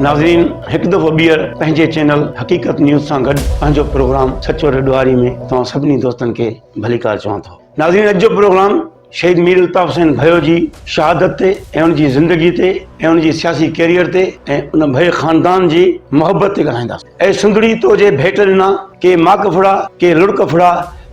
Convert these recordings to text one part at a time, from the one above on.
ناظرين هڪ دفعو ٻيهر پنهنجي چينل حقيقت نيوز سان گڏ پنهنجو پروگرام سچو ڏوهاري ۾ توهان سڀني دوستن کي ڀليڪار چوان ٿو ناظرين اڄ جو پروگرام شهيد مير الطاف حسين ڀيو جي شهادت تي ۽ ان جي زندگي تي ۽ ان جي سياسي ڪيريئر تي ۽ ان ڀيء خاندان جي محبت تي ڳالهائينداسين اي سنڌڙي تو جي ڀيٽ ڏنا ڪي ماڪ ڦڙا ڪي لڙڪ ڦڙا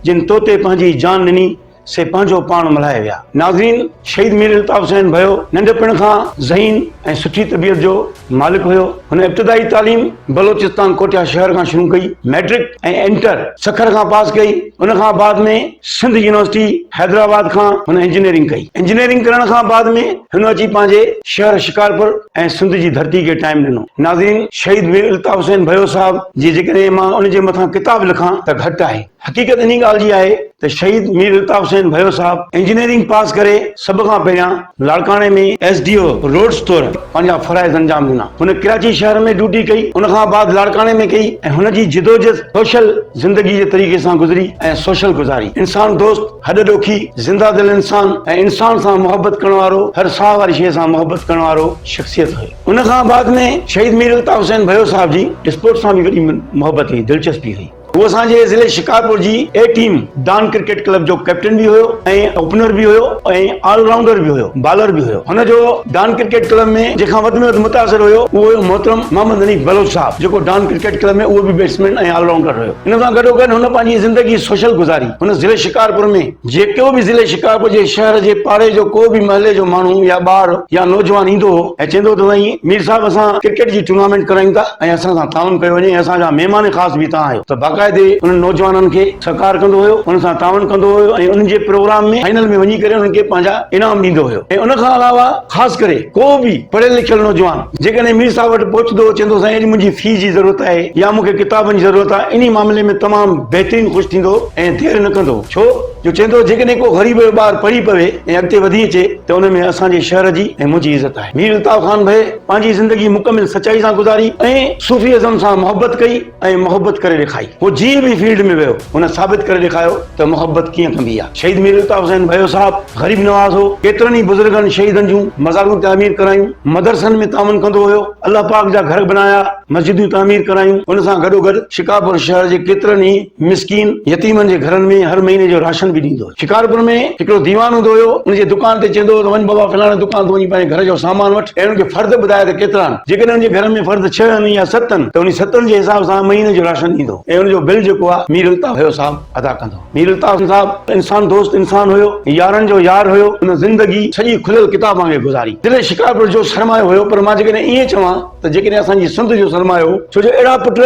جن تو تي پنهنجي جان ڏني سي پنهنجو پاڻ ملهائي ويا. ناظرين! شهيد مير الطاف حسين ڀيو ننڍپڻ کان ذهين ۽ سٺي طبيعت جو مالڪ هيو. هن ابتدائي تعليم بلوچستان ڪوٺيا شهر کان شروع ڪئي. مئٽرڪ ۽ انٽر سکر کان پاس ڪئي. ان کان بعد ۾ سنڌ يونيورسٽي حيدرآباد کان هن انجنيئرنگ ڪئي. انجنيئرنگ ڪرڻ کان بعد ۾ هن اچي پنهنجي شهر شڪارپور ۽ سنڌ جي ڌرتي کي ٽائيم ڏنو. ناظرين! شهيد مير الطاف حسين ڀيو صاحب جي جيڪڏهن مان ان جي مٿان ڪتاب لکان ته گهٽ آهي. حقيقت انهي ڳالهه جي آهي ته شهيد مير الطاف حسين ڀيو صاحب انجنيئرنگ پاس ڪري سڀ کان پهريان لاڙڪاڻي ۾ ايس ڊي او روڊز طور پنهنجا فرائض انجام ڏنا. هن ڪراچي شهر ۾ ڊيوٽي ڪئي، ان کان بعد لاڙڪاڻي ۾ ڪئي ۽ هن جي جدوجھد سوشل زندگي جي طريقي سان گذري ۽ سوشل گذاري انسان دوست، هڏ ڏوکي، زنده دل انسان ۽ انسان سان محبت ڪرڻ وارو هر ساهه واري شيء سان محبت ڪرڻ وارو شخصيت هئي. ان کان بعد ۾ شهيد مير الطاف حسين ڀيو صاحب جي اسپورٽس سان به وڏي محبت هئي، دلچسپي هئي. هو اسان جي ضلعي شڪارپور جي A team Don cricket club جو ڪئپٽن به هيو ۽ اوپنر به هيو ۽ آل رائونڊر به هيو بالر به هيو هن جو ڊان ڪرڪيٽ ڪلب ۾ جنهن کان وڌ ۾ وڌ متاثر هيو اهو هيو محترم محمد حنيف بلوچ صاحب جيڪو ڊان ڪرڪيٽ ڪلب ۾ اهو به بيٽسمين ۽ آل رائونڊر هيو ان سان گڏو گڏ هن پنهنجي زندگي سوشل گذاري هن ضلعي شڪارپور ۾ جيڪو به ضلعي شڪارپور جي شهر جي پاڙي جو ڪو به محلي جو ماڻهو يا ٻار يا نوجوان ايندو هو ۽ چوندو هو ته سائين مير صاحب اسان ڪرڪيٽ جي ٽورنامينٽ ڪرايون ٿا ۽ اسان سان تعاون ڪيو وڃي ۽ اسان جا مهمان خاص به توهان آهيو ته باقاعدي انهن نوجوانن کي سهڪار ڪندو هيو انهن سان تعاون ڪندو هيو ۽ انهن جي پروگرام ۾ فائنل ۾ وڃي ڪري انهن کي پنهنجا انعام ڏيندو هيو ۽ ان کان علاوه خاص ڪري ڪو به پڙهيل لکيل نوجوان جيڪڏهن مير صاحب وٽ پهچندو هو چوندو هو سائين اڄ منهنجي في جي ضرورت آهي يا مون کي ڪتابن جي ضرورت آهي انهي معاملي ۾ تمام بهترين خوش ٿيندو هو. ائين دير نه ڪندو، ڇو جو چوندو جيڪڏهن ڪو غريب جو ٻار پڙهي پوي ۽ اڳتي وڌي اچي ته ان ۾ اسان جي شهر جي ۽ منهنجي عزت آهي. مير الطاف خان ڀي پنهنجي زندگي مڪمل سچائي سان گذاري ۽ صوفي ازم سان محبت ڪئي ۽ محبت ڪري ڏيکائي. هو جنهن به فيلڊ ۾ ويو هن ثابت ڪري ڏيکاريو ته محبت ڪيئن ڪبي آهي. شهيد مير الطاف حسين ڀيو صاحب غريب نواز هو، ڪيترن ئي بزرگن شهيدن جون مزارون تعمير ڪرايون، مدرسن ۾ تعاون ڪندو هيو، الله پاڪ جا گهر بنايا، مسجدون تعمير ڪرايون، ان سان گڏوگڏ شڪارپور شهر جي ڪيترن ئي. مسڪين يتيمن جي گهرن ۾ هر مهيني جو راشن به ڏيندو هو. شڪارپور ۾ هڪڙو ديوان هوندو هيو، ان جي دڪان تي چئندو هو ته وڃ بابا فلاڻي دڪان تون وڃي پنهنجي گهر جو سامان وٺ ۽ ان کي فرد ٻڌاء ته ڪيترا آهن. جيڪڏهن ان جي گهر ۾ فرد ڇهه آهن يا ست آهن ته انهي ستن جي حساب سان مهيني جو راشن ڏيندو هو ۽ ان جو بل جيڪو آهي مير الطاف هيو صاحب ادا ڪندو هو. مير الطاف صاحب انسان دوست انسان هيو، يارن جو يار هيو، ان زندگي سڄي کليل ڪتاب وانگي گذاري. دل شڪارپور جو سرمايو هيو پر مان جيڪڏهن ائين چوان. ته جيڪڏهن اسان جي سنڌ جو سرمايو ڇو جو اهڙا پٽ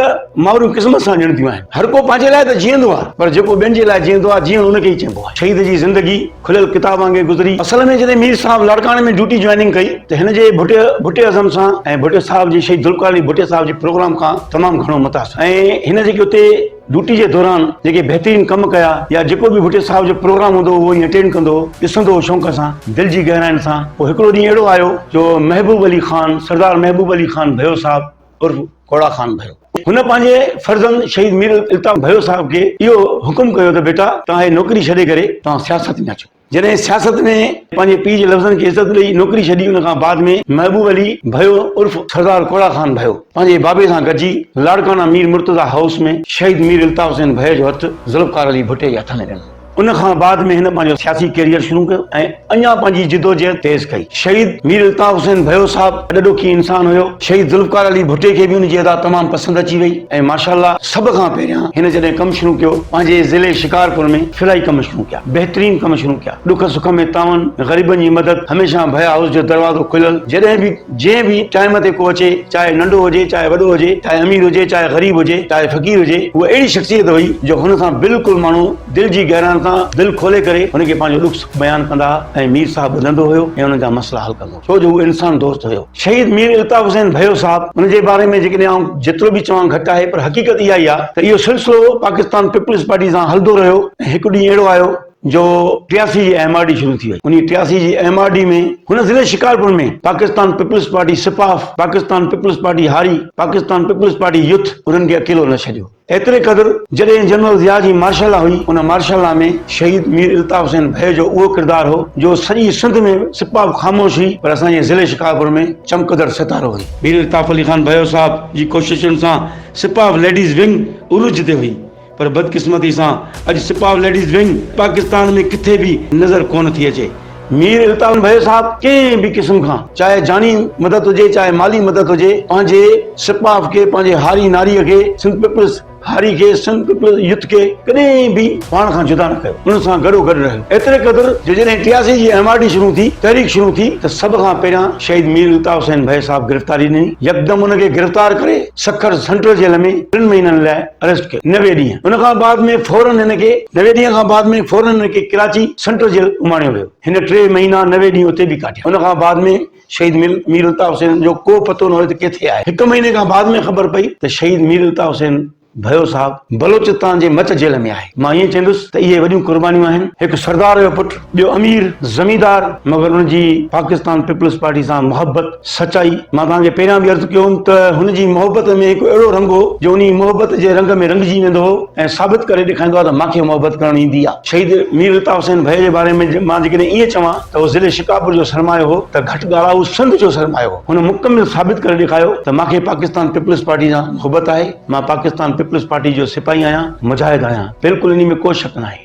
مائرون قسمت سان ڏيڻديون آهن هر ڪو پنهنجي لاء ته جيئندو آهي پر جيڪو ٻين جي لاء جيئندو آهي جيئڻ ان کي ئي چئبو آهي شهيد جي زندگي کليل ڪتاب وانگي گذري اصل ۾ جڏهن مير صاحب لاڙڪاڻي ۾ ڊيوٽي جوائننگ ڪئي ته هن جي ڀٽي ڀٽي ازم سان ۽ ڀٽي صاحب جي شهيد ذوالفقار علي ڀٽي صاحب جي پروگرام کان تمام گهڻو متاثر ۽ هن جيڪي اتي ڊيوٽي جي دوران جيڪي بهترين ڪم ڪيا يا جيڪو به ڀٽي صاحب جو پروگرام هوندو هو اهو ائين اٽينڊ ڪندو هو ڏسندو هو شونق سان دل جي گهراين سان پوء هڪڙو ڏينهن اهڙو آيو جو محبوب علي خان سردار محبوب علي خان ڀيو صاحب عرف ڪوڙا خان ڀيو هن پنهنجي فرزند شهيد مير الطاف ڀيو صاحب کي اهو حڪم ڪيو ته بيٽا توهان هي نوڪري ڇڏي ڪري توهان سياست ۾ اچو. جڏهن سياست ۾ پنهنجي پيء جي لفظن کي عزت ڏئي نوڪري ڇڏي ان کان بعد ۾ محبوب علي ڀيو عرف سردار ڪوڙا خان ڀيو پنهنجي بابي سان گڏجي لاڙڪانا مير مرتضيٰ هائوس ۾ شهيد مير الطاف حسين ڀيء جو هٿ ذوالفقار علي ڀٽي جي هٿ ۾ ڏنو ان کان بعد ۾ هن پنهنجو سياسي ڪيريئر شروع ڪيو ۽ اڃا پنهنجي جدوجهد تيز ڪئي شهيد مير الطاف حسين ڀيو صاحب اڏ ڏکي انسان هيو شهيد ذوالفقار علي ڀٽي کي به ان جي ادا تمام پسند اچي وئي ۽ ماشاءالله سڀ کان پهريان هن جڏهن ڪم شروع ڪيو پنهنجي ضلعي شڪارپور ۾ فلاحي ڪم شروع ڪيا بهترين ڪم شروع ڪيا. ڏک سک ۾ تعاون، غريبن جي مدد، هميشه ڀيا هائوس جو دروازو کليل، جڏهن به جنهن به ٽائيم تي ڪو اچي، چاهي ننڍو هجي چاهي وڏو هجي، چاهي امير هجي چاهي غريب هجي، چاهي فقير هجي، هوء اهڙي شخصيت هئي جو هن سان بلڪل ماڻهو دل جي گهرائن تان دل کولي ڪري هن کي پنهنجو ڏک سک بيان ڪندا ۽ مير صاحب ٻڌندو هيو ۽ انهن جا مسئلا حل ڪندو هيو. ڇو جو هو انسان دوست هيو. شهيد مير الطاف حسين ڀيو صاحب ان جي باري ۾ جيڪڏهن آئون جيترو به چوان گهٽ آهي پر حقيقت اها ئي آهي ته اهو سلسلو پاڪستان پيپلز پارٽي سان هلندو رهيو ۽ هڪ ڏينهن اهڙو آيو جو ٽياسي جي ايم آر ڊي شروع ٿي وئي انهي ٽياسي جي ايم آر ڊي ۾ هن ضلعي شڪارپور ۾ پاڪستان پيپلز پارٽي سپاف، پاڪستان پيپلز پارٽي هاري، پاڪستان پيپلز پارٽي يوٿ انهن کي اڪيلو نه ڇڏيو. ايتري قدر جڏهن جنرل ضياء جي مارشل لا هئي، ان مارشل لا ۾ شهيد مير الطاف حسين ڀي جو اهو ڪردار هو، جو سڄي سنڌ ۾ سپاهه به خاموش هئي، پر اسان جي ضلعي شڪارپور ۾ چمڪندڙ ستارو هئي. مير الطاف علي خان ڀيو صاحب جي ڪوششن سان سپاهه ليڊيز ونگ عروج تي هئي، پر بدقسمتي سان اڄ سپاهه ليڊيز ونگ پاڪستان ۾ ڪٿي به نظر ڪونه ٿي اچي. مير الطاف ڀيل صاحب ڪنهن به قسم کان چاهي جاني مدد هجي چاهي مالي مدد هجي پنهنجي سپاف کي پنهنجي هاري ناري کي سنڌ پيپلز هاري کي سنڌ پيپلز يوٿ کي ڪڏهن به پاڻ کان جدا نه ڪيو ان سان گڏو گڏ رهيو ايتري قدر جو جڏهن ٽياسي جي ايم آر ڊي شروع ٿي تحريڪ شروع ٿي ته سڀ کان پهريان شهيد مير الطاف حسين ڀيل صاحب گرفتاري ڏني يڪدم ان کي گرفتار ڪري سکر سينٽرل جيل ۾ ٽن مهينن لاء اريسٽ ڪيو نوي ڏينهن ان کان بعد ۾ فورن هن کي نوي ڏينهن کان بعد ۾ فورن هن کي ڪراچي سينٽرل جيل اماڻيو ويو هن ٽي مهينا نوي ڏينهن اتي به ڪاٽيا ان کان بعد ۾ شهيد مير مير الطاف حسين جو ڪو پتو نه هيو ته ڪٿي آهي هڪ مهيني کان بعد ۾ خبر پئي ته شهيد مير الطاف حسين ڀيو صاحب بلوچستان جي مچ جيل ۾ آهي مان ائين چوندس ته اهي وڏيون قربانيون آهن هڪ سردار جو پٽ ٻيو امير زميندار مگر ان جي پاڪستان پيپلز پارٽي سان محبت سچائي مان توهان کي پهريان به عرض ڪيو هوم ته هن جي محبت ۾ هڪ اهڙو رنگ هو جو انهي محبت جي رنگ ۾ رنگجي ويندو هو ۽ ثابت ڪري ڏيکائيندو ها ته مان کي محبت ڪرڻ ايندي آهي شهيد مير الطاف حسين ڀئي جي باري ۾ مان جيڪڏهن ائين چوان ته هو ضلعي شڪارپور جو سرمايو هو ته گهٽ ڳالهه هو سنڌ جو سرمايو هو هن مڪمل ثابت ڪري ڏيکايو ته مان کي پاڪستان پيپلز پارٽي سان محبت آهي مان پاڪستان پيپلز پارٽي جو سپاهي آهيان مجاهد آهيان بلڪل انهي ۾ ڪو شڪ ناهي.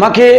مان کي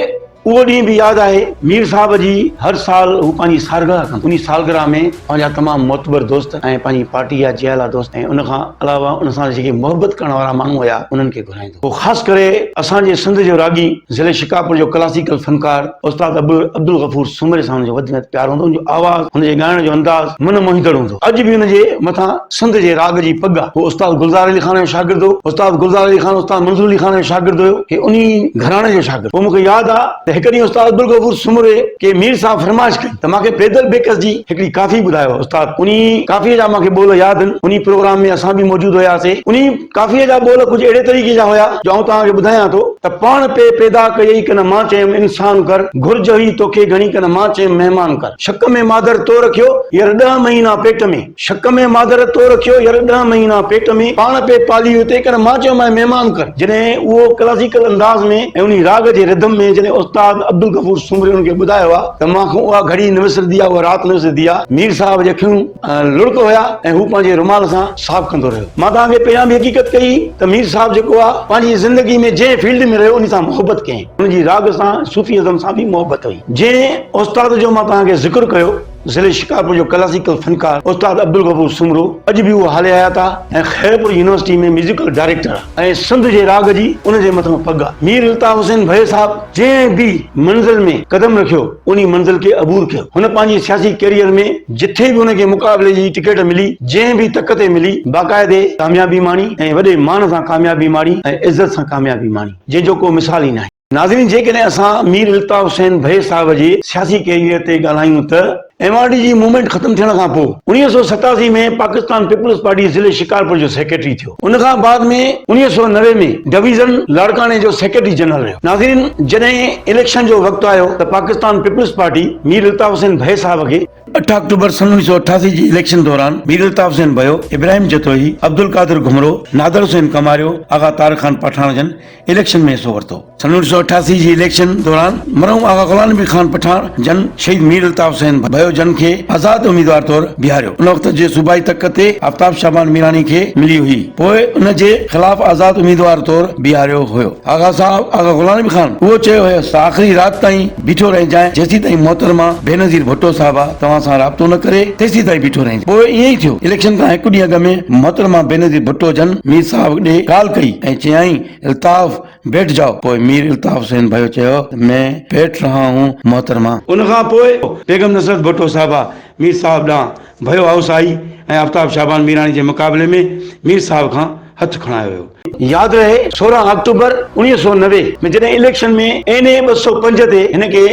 اهو ڏينهن به ياد آهي، مير صاحب جي هر سال هو پنهنجي سالگرهه ڪندو هو، انهي سالگرهه ۾ پنهنجا تمام معتبر دوست ۽ پنهنجي پارٽي جا جيالا دوست ۽ ان کان علاوه ان سان جيڪي محبت ڪرڻ وارا ماڻهو هيا انهن کي گهرائيندو هو، خاص ڪري اسان جي سنڌ جو راڳي، ضلعي شڪارپور جو ڪلاسيڪل فنڪار استاد عبدالغفور سومري سان هن جو وڌ ۾ وڌ پيار هوندو هو، هن جو آواز، هن جي ڳائڻ جو انداز من موهيندڙ هوندو هو، اڄ به هن جي مٿان. سنڌ جي راڳ جي پڳ آ. هو استاد گلزار علي خان جو شاگرد هو. استاد گلزار علي خان استاد منظور علي خان جو شاگرد هيو. هي انهي گهراڻي جو شاگرد هو. مون کي ياد آ ته هڪ ڏينهن استاد عبدالغفور سومري کي مير صاحب فرمائش ڪئي ته مان کي بيدل بيڪس جي هڪڙي ڪافي ٻڌايو. استاد انهي ڪافيء جا مان کي ٻول ياد آهن. انهي پروگرام ۾ اسان به موجود هياسين. انهي ڪافيء جا ٻول ڪجهه اهڙي طريقي جا هيا جو آئون توهان کي ٻڌايان ٿو ته پاڻ پئي پيدا ڪيئي ڪن مان چيم انسان ڪر گهرج هئي توکي گهڻي ڪن مان چيم مهمان ڪر شڪ ۾ مادر تو رکيو ير ڏهه مهينا پيٽ ۾. شڪ ۾ مادر تو رکيو ير ڏهه مهينا پيٽ ۾، پاڻ پئي پالي هئي تنهن ڪري مان چيو مانء مهمان ڪر. جڏهن اهو ڪلاسيڪل انداز ۾ ۽ انهي راڳ جي رڌم ۾ جڏهن استاد عبدالغفور سومري ان کي ٻڌايو ها ته مان کان اها گهڙي نه وسرندي ها اها رات نه وسرندي ها مير صاحب جي اکيون لڙڪ هيا ۽ هو پنهنجي رومال سان صاف ڪندو رهيو. مان توهان کي پهريان به حقيقت ڪئي ته مير صاحب جيڪو ها پنهنجي زندگي ۾ جنهن فيلڊ ۾ رهيو انهي سان محبت ڪيائين ان جي راڳ سان ۽ صوفي ازم سان به محبت هئي جنهن استاد جو مان توهان کي ذڪر ڪيو ضلعي شڪارپور جو ڪلاسيڪل فنڪار استاد عبدالغفور سومرو اڄ به اهو حال حيات آهي ۽ خيرپور يونيورسٽي ۾ ميوزيڪل ڊائريڪٽر آهي ۽ سنڌ جي راڳ جي ان جي مٿان پڳ آهي. مير الطاف حسين ڀيل صاحب جنهن به منزل ۾ قدم رکيو انهي منزل کي عبور ڪيو. هن پنهنجي سياسي ڪيريئر ۾ جٿي به هن کي مقابلي جي ٽڪيٽ ملي، جنهن به تڪ تي ملي، باقاعدي ڪاميابي ماڻي ۽ وڏي مان سان ڪاميابي ماڻي ۽ عزت سان ڪاميابي ماڻي، جنهن جو ڪو مثال ئي ناهي. ناظرين جيڪڏهن اسان مير الطاف حسين ڀي صاحب جي سياسي ڪيريئر تي ڳالهايون ته ايم آر ڊي جي موومينٽ ختم ٿيڻ کان پوء اڻويهه سؤ ستاسي ۾ پاڪستان پيپلز پارٽي ضلعي شڪارپور جو سيڪريٽري ٿيو ان کان بعد ۾ اڻويهه سؤ نوي ۾ ڊويزن لاڙڪاڻي جو سيڪريٽري جنرل رهيو ناظرين جڏهن اليڪشن جو وقت آيو ته پاڪستان پيپلز پارٽي مير الطاف حسين ڀي صاحب کي اٺ آڪٽوبر سن اوڻيھ سؤ اٺاسي جي اليڪشن دوران مير الطاف حسين ڀيو، ابراهيم جتوئي، عبدالقادر گهمرو، نادر حسين ڪماريو، آغا طارق خان پٺاڻ جن اليڪشن ۾ حصو ورتو. سن اوڻيھ سؤ اٺاسي جي اليڪشن دوران مرحوم آغا غلام نبي خان پٺاڻ جن شهيد مير الطاف حسين ڀيو جن کي آزاد اميدوار طور بيهاريو. ان وقت جي صوبائي تڪ تي آفتاب شعبان ميراڻي کي ملي هئي. پوء ان جي خلاف آزاد اميدوار طور بيهاريو هيو. آغا صاحب آغا غلام نبي خان اهو چيو هيس ته آخري رات تائين بيٺو رهجانء، جيسين تائين محترمه بينظير ڀٽو صاحبه توهان سان رابطو نه ڪري، تيسين تائين بيٺو رهجانء. پوء ائين ئي ٿيو. اليڪشن کان هڪ ڏينهن اڳ ۾ محترمه بينظير ڀٽو جن مير صاحب ڏي ڪال ڪئي ۽ چيائين الطاف بيٺ جاؤ. پوء مير الطاف حسين ڀيو چيو ته مين بيٺ رها هون محترمه. ان کان پوء بيگم نصرت ڀٽو صاحبه مير صاحب ڏانهن ڀيو هائوس آئي ۽ آفتاب شعبان ميراڻي جي مقابلي ۾ مير صاحب کان هٿ کڻايو ويو. ياد رهي سورهن آڪٽوبر اوڻيهه سؤ نوي ۾ جڏهن اليڪشن ۾ اين اي ٻه سؤ پنج تي هن کي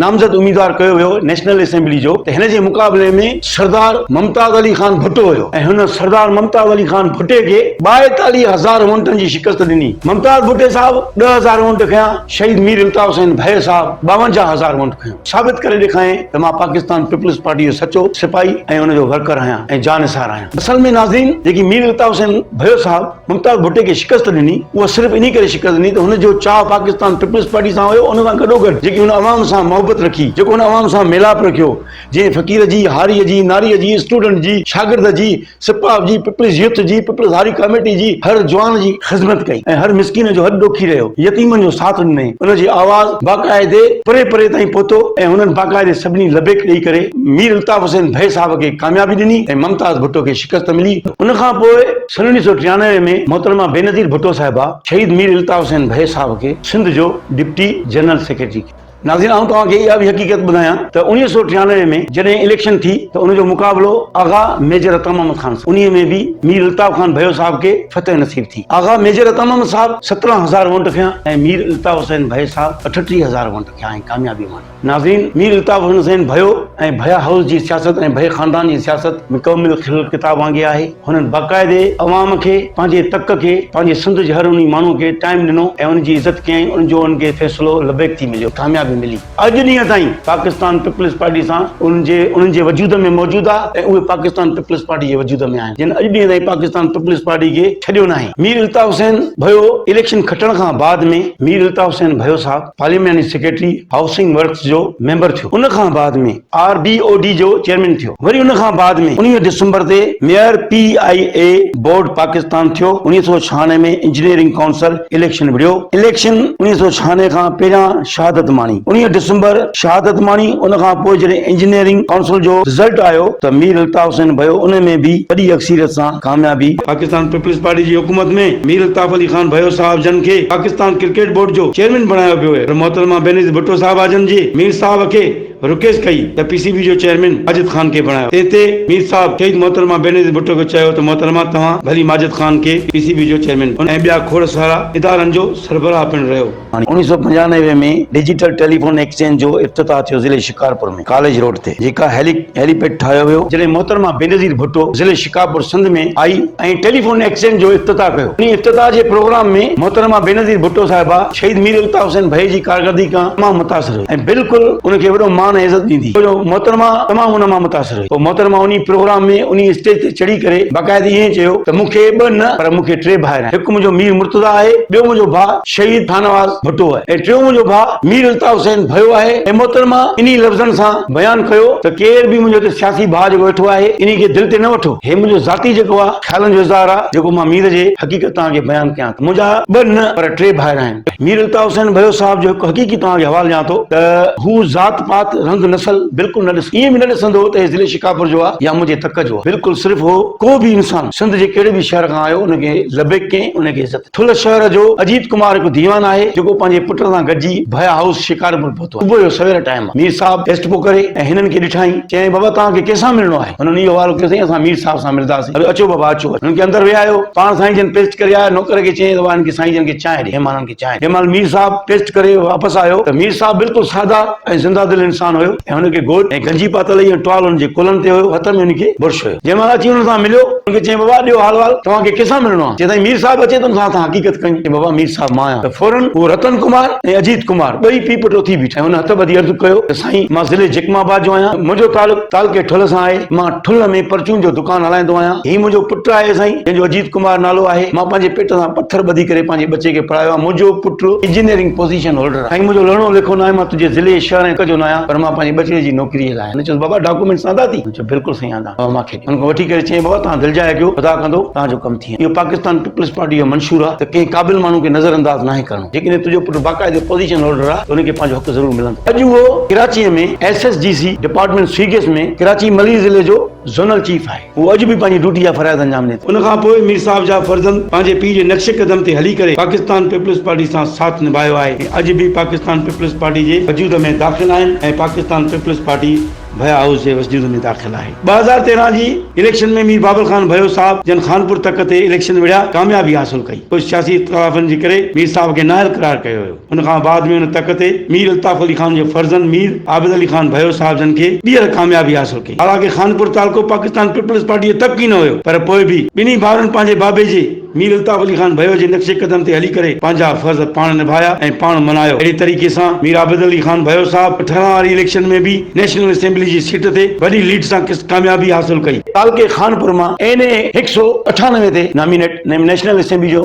نامزد اميدوار ڪيو ويو نيشنل اسيمبلي جو ته هن جي مقابلي ۾ سردار ممتاز علي خان ڀٽو هيو ۽ هن سردار ممتاز علي خان ڀٽي کي ٻائيتاليهه هزار وونٽن جي شڪست ڏني ممتاز ڀٽي صاحب ڏهه هزار وونٽ کنيا شهيد مير الطاف حسين ڀيء صاحب ٻاونجاهه هزار وونٽ کنيو ثابت ڪري ڏيکايائين ته مان پاڪستان پيپلز پارٽي جو سچو سپاهي ۽ ان جو ورڪر آهيان ۽ جانثار آهيان. اصل ۾ ناظرين جيڪي مير الطاف حسين ڀريو صاحب ممتاز ڀٽي کي شڪست ڏني اها صرف انهي ڪري شڪست ڏني ته هن جو چاهه پاڪستان پيپلز پارٽي سان هيو ان سان گڏوگڏ جيڪي هن عوام سان محبت رکي جيڪو هن عوام سان ميلاپ رکيو جنهن فقير جي هاري جي ناري جي اسٽوڊنٽ جي شاگرد جي سپاهه جي پيپلز يوٿ جي پيپلز هاري ڪاميٽي جي هر جوان جي خذمت ڪئي ۽ هر مسڪين جو هڏ ڏوکي رهيو، يتيمن جو ساٿ ڏنئين، ان جي آواز باقاعدي پري پري تائين پهتو ۽ هنن باقاعدي سڀني لبيڪ ڏئي ڪري مير الطاف حسين ڀي صاحب کي ڪاميابي ڏني ۽ ممتاز ڀٽو کي شڪست ملي، ان کان پوء سن اڻيهه سؤ ٽيانوي ۾ محترمه بينظير ڀٽو صاحبه شهيد مير الطاف حسين ڀي صاحب کي سنڌ جو ڊپٽي جنرل سيڪريٽري ڪيو. ناظرين آئون توهان کي اها به حقيقت ٻڌايان ته اوڻيهه سؤ ٽيانوي ۾ جڏهن اليڪشن ٿي ته ان جو مقابلو آغا ميجر عطا محمد خان سان انهيء ۾ به مير الطاف خان ڀيو صاحب کي فتح نصيب ٿي آغا ميجر عطا محمد صاحب سترهن هزار وونٽ کنيا ۽ مير الطاف حسين ڀيو صاحب اٺٽيهه هزار وونٽ کنيا ۽ ڪاميابي ماڻي ناظرين مير الطاف حسين ڀيو ۽ ڀيا هائوس جي سياست ۽ ڀيا خاندان جي سياست مڪمل کليل ڪتاب وانگي آهي. هنن باقاعدي عوام کي، پنهنجي تڪ کي، پنهنجي سنڌ جي هر انهي ماڻهو کي ٽائيم ڏنو ۽ ان جي عزت ڪيائين ان جو انهن کي فيصلو لبيڪ ٿي مليو، ڪاميابي ملي. اڄ ڏينهن تائين پاڪستان پيپلز پارٽي سان انهن جي انهن جي وجود ۾ موجود آهي ۽ اهي پاڪستان پيپلز پارٽي جي وجود ۾ آهن جن اڄ ڏينهن تائين پاڪستان پيپلز پارٽي کي ڇڏيو ناهي. مير الطاف حسين ڀيو اليڪشن کٽڻ کان بعد ۾ مير الطاف حسين ڀيو صاحب پارلياماني سيڪريٽري هائوسنگ ورڪس جو ميمبر ٿيو ان کان بعد ۾ آر بي او ڊي جو چيئرمين ٿيو وري ان کان بعد ۾ انويهه ڊسمبر تي mayor P I A board Pakistan ٿيو انويهه سؤ ڇهانوي ۾ انجنيئرنگ ڪائونسل اليڪشن وڙهيو اليڪشن انويهه سؤ ڇهانوي کان پهريان شهادت ماڻي انويهه ڊسمبر شهادت ماڻي ان کان پوء جڏهن انجنيئرنگ ڪائونسل جو رزلٽ آيو ته مير الطاف حسين ڀيو ان ۾ به وڏي اڪثريت سان ڪاميابي پاڪستان پيپلز پارٽي جي حڪومت ۾ مير الطاف علي خان ڀيو صاحب جن کي پاڪستان ڪرڪيٽ بورڊ جو چيئرمين بڻايو ويو پر محترمه بينظير ڀٽو صاحبه جن جي مير صاحب کي رڪيس ڪئي ته پي سي بي جو چيئرمين ماجد خان کي بڻايو تنهن تي مير صاحب شهيد محترمه بينظير ڀٽو کي چيو ته محترمه توهان ڀلي ماجد خان کي پي سي بي جو چيئرمين بڻايو ۽ ٻيا کوڙ سارا ادارن جو سربراهه پڻ رهيو. اوڻيهه سؤ پنجانوي ۾ ڊجيٽل ٽيليفون ايڪسچينج جو افتتاح ٿيو ضلعي شڪارپور ۾ ڪاليج روڊ تي جيڪا هيلي هيلي پيڊ ٺاهيو ويو. جڏهن محترمه بينظير ڀٽو ضلعي شڪارپور سنڌ ۾ آئي ۽ ٽيليفون ايڪسچينج جو افتتاح ڪيو انهي افتتاح جي پروگرام ۾ محترمه بينظير ڀٽو صاحبه شهيد مير الطاف حسين ڀئي جي ڪارڪردگي کان تمام متاثر هئي. ۽ بلڪل ان کي وڏو مان ۽ عزت ڏيندي ڇو جو محترمه تمام ان مان متاثر هئي پوء محترمه انهي پروگرام ۾ انهي اسٽيج تي چڙهي ڪري باقاعدي ائين چيو ته مون کي ٻه نه پر مون کي ٽي ڀائر آهن هڪ منهنجو مير مرتضيٰ آهي ٻيو منهنجو ڀاء شهيد شاهنواز ڀٽو آهي ۽ ٽيون منهنجو ڀاء مير الطاف حسين ڀيو آهي ۽ محترمه انهي لفظن سان بيان ڪيو ته ڪير به منهنجو هتي سياسي ڀاء جيڪو ويٺو آهي انهي کي دل تي نه وٺو هي منهنجو ذاتي جيڪو آهي خيالن جو اظهار آهي جيڪو مان مير جي حقيقت توهان کي بيان ڪيان ٿو منهنجا ٻه نه پر ٽي ڀائر آهن. مير الطاف حسين ڀيو صاحب جو هڪ حقيقي توهان کي حوالو ڏيان ٿو ته هو ذات پات رنگ نسل بلڪل نه ڏسندو ائين به نه ڏسندو هو ته هي ضلعي شڪارپور جو آ يا منهنجي تڪ جو آ بلڪل صرف هو ڪو به انسان سنڌ جي ڪهڙي به شهر کان آيو ان کي لبيڪ ڪئين ان کي عزت ٿل شهر جو اجيت ڪمار هڪ ديوان آهي جيڪو پنهنجي پٽ سان گڏجي ڀيا هائوس شڪارپور پهتو. صبح جو سوير ٽائيم مير صاحب ٽيسٽ پيو ڪري ۽ هنن کي ڏٺائين، چيائين، بابا توهان کي ڪنهن سان ملڻو آهي؟ هنن اهو حوالو ڪيو، سائين اسان مير صاحب سان ملنداسين. اڙي اچو بابا اچو. هنن کي اندر ويهايو، پاڻ سائين جن پيسٽ ڪري آيا، نوڪر کي چيائين ته وهه هن کي سائين جن کي چانهه ڏي. مهمانن کي چانهه ڏي. جنهن مهل مير صاحب ٽيسٽ ڪري واپس آيو ته مير صاحب بلڪل سادا ۽ زنده دل انسان هيو ۽ هن کي گوج ۽ گنجي پاتل هئي ۽ ٽوال هن جي ڪلهن تي هيو، هٿ ۾ هن کي برش هيو. جنهن مهل اچي هنن سان مليو، هنن کي چيائين، بابا ڏيو حال وال، توهان کي ڪنهن سان ملڻو آهي؟ چيائين، سائين مير صاحب اچي ته هن سان اسان حقيقت ڪيون. چيائين، بابا مير صاحب مان آهيان. ته فورن هو رتن ڪمار ۽ اجيت ڪمار ٻئي پيء پٽ اٿي بيٺا ۽ هن هٿ ٻڌي عرض ڪيو ته سائين مان ضلعي جيڪم آباد جو آهيان منهنجو تعلق تعلقي ٺل سان آهي مان ٺل ۾ پرچون جو دڪان هلائيندو آهيان هي منهنجو پٽ آهي سائين جنهن جو اجيت ڪمار نالو آهي مان پنهنجي پيٽ سان پٿر ٻڌي ڪري پنهنجي ٻچي کي پڙهايو آهي منهنجو پٽ انجنيئرنگ پوزيشن هولڊر آهي سائين منهنجو لهڻو لکو ناهي مان تنهنجي ضلعي شهر ۽ جو ناهيان پر مان پنهنجي ٻچڙي جي نوڪري لاء آهيان هن چيس بابا ڊاڪومينٽس آندا اٿئي هن چيو بلڪل سائين آندا اٿم اوهان مون کي هن کان وٺي ڪري چئين بابا توهان دلجاء ڪيو خدا ڪندو توهان جو ڪم ٿيڻ اهو پاڪستان پيپلز پارٽي جو منشور آهي ته ڪنهن قابل ماڻهو کي نظر انداز ناهي ڪرڻو جيڪڏهن تنهنجو پٽ باقاعدي پوزيشن هولڊر آهي ته ان کي پنهنجو حق ضرور ملندو اڄ اهو ڪراچيء ۾ S S G C department سيگس ۾ ڪراچي ملير ضلعي جو زونل چيف آهي اهو اڄ به پنهنجي ڊيوٽي جا فرائض انجام ڏئي ٿو. ان کان پوء مير صاحب جا فرزند پنهنجي پيء جي نقش قدم تي هلي ڪري پاڪستان پيپلز پارٽي سان ساٿ نڀايو آهي ۽ اڄ به پاڪستان پيپلز پارٽي جي وجود ۾ داخل آهن ۽ پاڪستان پيپلز پارٽي ڀيا هائوس جي وسجود ۾ داخل آهي. ٻه هزار تيرهن جي اليڪشن ۾ مير بابل خان ڀيو صاحب جن خانپور تڪ تي اليڪشن وڙهيا ڪاميابي حاصل ڪئي ڪجهه سياسي اختلافن جي ڪري مير صاحب کي نااهل قرار ڪيو ويو ان کان بعد ۾ ان تڪ تي مير الطاف علي خان جي فرزند مير عابد علي خان ڀيو صاحب جن کي ٻيهر ڪاميابي حاصل ڪئي حالانڪه خانپور تعلقو پاڪستان پيپلز پارٽي جو تڪ ئي نه هيو پر پوء به ٻنهي ڀائرن پنهنجي بابي جي مير الطاف علي خان ڀيو جي نقش قدم تي هلي ڪري پنهنجا فرض پاڻ نڀايا ۽ پاڻ ملهايو. اهڙي طريقي سان مير عابد علي خان ڀيو صاحب اٺارهن واري اليڪشن ۾ به نيشنل اسيمبلي جي سيٽ تي وڏي ليڊ سان ڪاميابي حاصل ڪئي. تعلقي خانپور مان اين اي هڪ سؤ اٺانوي تي نامينيٽ نيشنل اسيمبلي جو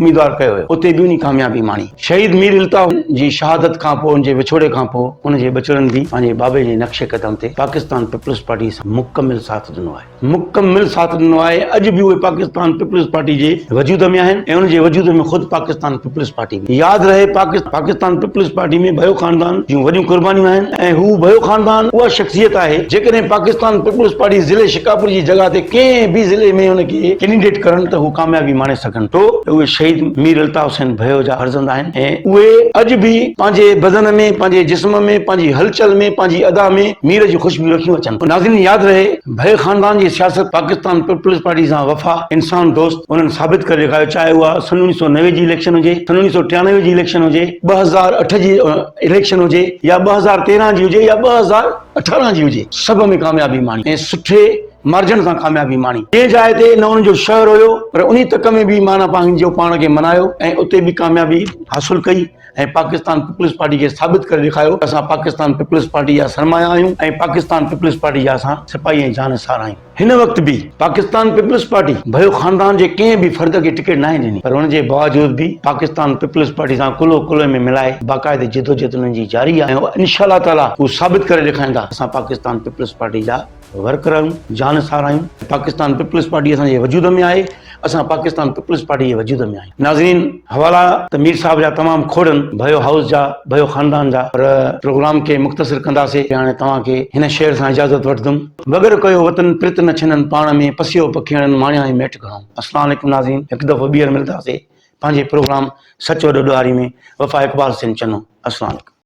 اميدوار ڪيو ويو. اتي به هن ڪاميابي ماڻي. شهيد مير الطاف جي شهادت کان پوء ان جي وڇوڙي کان پوء ان جي ٻچڙن به پنهنجي بابي جي نقش قدم تي پاڪستان پيپلز پارٽي سان مڪمل ساٿ ڏنو آهي. مڪمل ساٿ ڏنو آهي ۽ اڄ به اهي پاڪستان پيپلز پارٽي جي وجود ۾ آهن ۽ ان جي وجود ۾ خود پاڪستان پيپلز پارٽي به. ياد رهي ته پاڪستان پيپلز پارٽي ۾ ڀيو خاندان جون وڏيون قربانيون آهن ۽ هو ڀيو خاندان اها شخصيت آهي جيڪڏهن پاڪستان پيپلز پارٽي ضلعي شڪارپور جي جڳهه تي ڪنهن به ضلعي ۾ ان کي ڪينڊيڊيٽ ڪرن ته هو ڪاميابي ماڻي سگهن ٿو ته اهي شهيد مير الطاف حسين ڀيو جا فرزند آهن ۽ اهي اڄ به پنهنجي بدن ۾ پنهنجي جسم ۾ پنهنجي هلچل ۾ پنهنجي ادا ۾ مير جون خوشبويون رکيون اچن ناظرين ياد رهي ڀيل خاندان جي سياست پاڪستان پيپلز پارٽي سان وفا انسان دوست انهن ثابت ڪري ڏيکاريو چاهي اها سن اڻيهه سؤ نوي جي اليڪشن هجي سن اڻيهه سؤ ٽيانوي جي اليڪشن هجي ٻه هزار اٺ جي اليڪشن هجي يا ٻه هزار تيرهن جي هجي يا ٻه هزار اٺارهن جي هجي سڀ ۾ ڪاميابي ماڻي ۽ سٺي مارجن سان ڪاميابي ماڻي جنهن جاء تي نه ان جو شهر هيو پر انهي تڪ ۾ به معنيٰ پنهنجو پاڻ کي منايو ۽ اتي به ڪاميابي حاصل ڪئي ۽ پاڪستان پيپلز پارٽي کي ثابت ڪري ڏيکاريو ته اسان پاڪستان پيپلز پارٽي جا سرمايا آهيون ۽ پاڪستان پيپلز پارٽي جا اسان سپاهي ۽ جان نثار آهيون. هن وقت به پاڪستان پيپلز پارٽي ڀيو خاندان جي ڪنهن به فرد کي ٽڪيٽ ناهي ڏني پر ان جي باوجود به پاڪستان پيپلز پارٽي سان ڪلهو ڪلهي ۾ ملائي باقاعده جدوجهد انهن جي جاري آهي ۽ انشاء الله تعالٰي هو ثابت ڪري ڏيکاريندا ته اسان پاڪستان پيپلز پارٽي جا ورڪ رهيون جان ساراهيون پاڪستان پيپلز پارٽي اسان جي وجود ۾ آهي اسان پاڪستان پيپلز پارٽي جي وجود ۾ آهيون ناظرين حوالا ته مير صاحب جا تمام کوڙن ڀيو هائوس جا ڀيو خاندان جا پر پروگرام کي مختصر ڪنداسي هاڻي توهان کي هن شعر سان اجازت وٺدم وڳر ڪيو وطن پرت نه ڇنن پاڻ ۾ پسيو پکيڻن ماڻيائين ميٺ گهڻو السلام عليڪم ناظرين هڪ دفعو ٻيهر ملداسي پنهنجي پروگرام سچ وڏو ڏوهاري ۾ وفا اقبال سين چنو السلام عليڪم